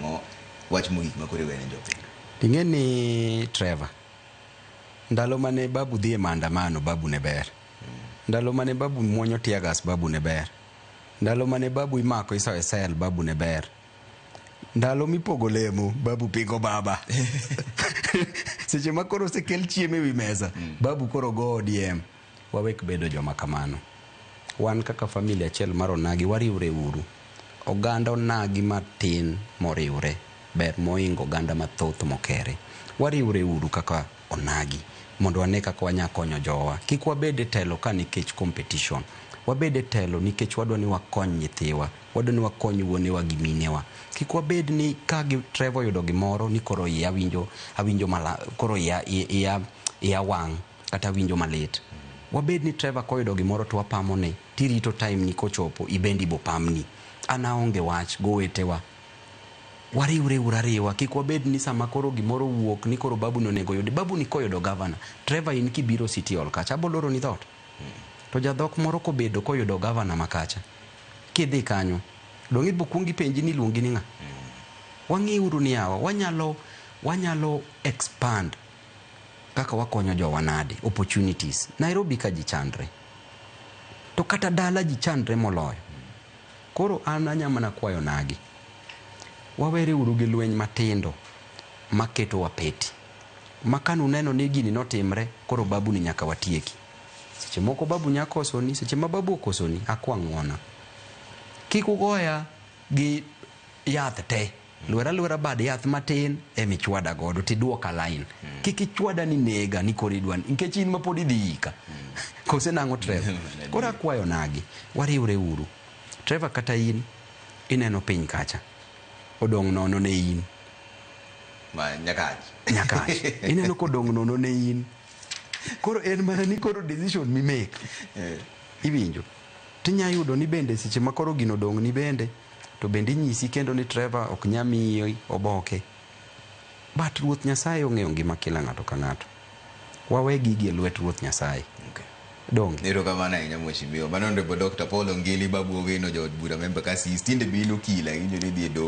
Mo- wach mogik ma koro iwene jopiny ing'e ni trevor ndalo mane babu dhi e maandamano babu ne ber ndalo mane babu muonyo tiagas babu ne ber ndalo mane babu imako iso e sel babu ne ber ndalo mipogo lemo babu pingo baba seche ma koro osekel chiemo ewi mesa babu koro go odm Wawek bedo joma kamano. Wan kaka famili achiel mar Onagi wariwre uru. Oganda Onagi matin moriwre ber moingo oganda mathoth mokere. Wariwre uru kaka Onagi mondo wane kaka wanya konyo jowa. Kik wabed e telo ka nikech competition. Wabed e telo nikech wadwa ni wakony nyithiwa. Wadwa ni wakony wuonewa gi minewa. Kik wabed ni ka Trevor oyudo gimoro ni koro iya winjo awinjo malah koro iya iya iya wang'. kata winjo malit. Wabed ni Trevor koyudo gimoro to wapamo ne, tirito time ni kochopo ibende ibo pamni. An aonge wach gowetewa. Wariwre uru ariwa, kik wabed ni sama koro gimoro owuok ni koro babu ni onego oyudi. Babu ni koyudo Governor, Trevor in kibiro City Hall kacha abo loro ni dhoot. To jadhok moro kobedo koyudo Governor ma kacha, kidhi kanyo, donge ibo kuong ipenji ni iluongi ni ng'a? Wang'i uru ni yawa, wanyalo, wanyalo expand Kaka wakonyo jowa nade? Opportunities. Nairobi ka ji chandre. To kata dala ji chandre moloyo. Koro an anya mana kwayo nagi. Wawere uru gi lweny matindo maketo wa peti. Ma kane uneno ni gini notimre, koro babu ni nyaka watieki. Seche moko babu nya kosoni, seche ma babu okosoni, akwa ng'wona. Kik ugoya gi yath te. Lwer alwera bad yath matin ema ichwada godo to iduoka line. Kik ichwada ni nega ni koro idwa ni- nikech in ma pod idhi yika. Kose nang'o Trevor? Koro akwayo nagi, wariwre uru. Trevor kata in, ineno piny kacha. Odong' nono ne in. Ma nyakach. Nyakach. Ineno kodong' nono ne in. Koro en mana ni koro decision mi make. Iwinjo? Tinya yudo ni bende seche ma koro gino odong' ni bende, To bende inyisi kendo ni Trevor ok nya miyi oboke. But Ruoth Nyasaye ong'eyo ngima kila ng'ato ka ng'ato. Wawe gigi e lwet Ruoth Nyasaye. Okay. Donge? Erokamano ahinya Mheshimiwa. Mano Honorable Doctor Paul Ongili, Babu Owino, Jaod Bura Member Kasisi. Tinde be in okil ahinya, idhi e doho.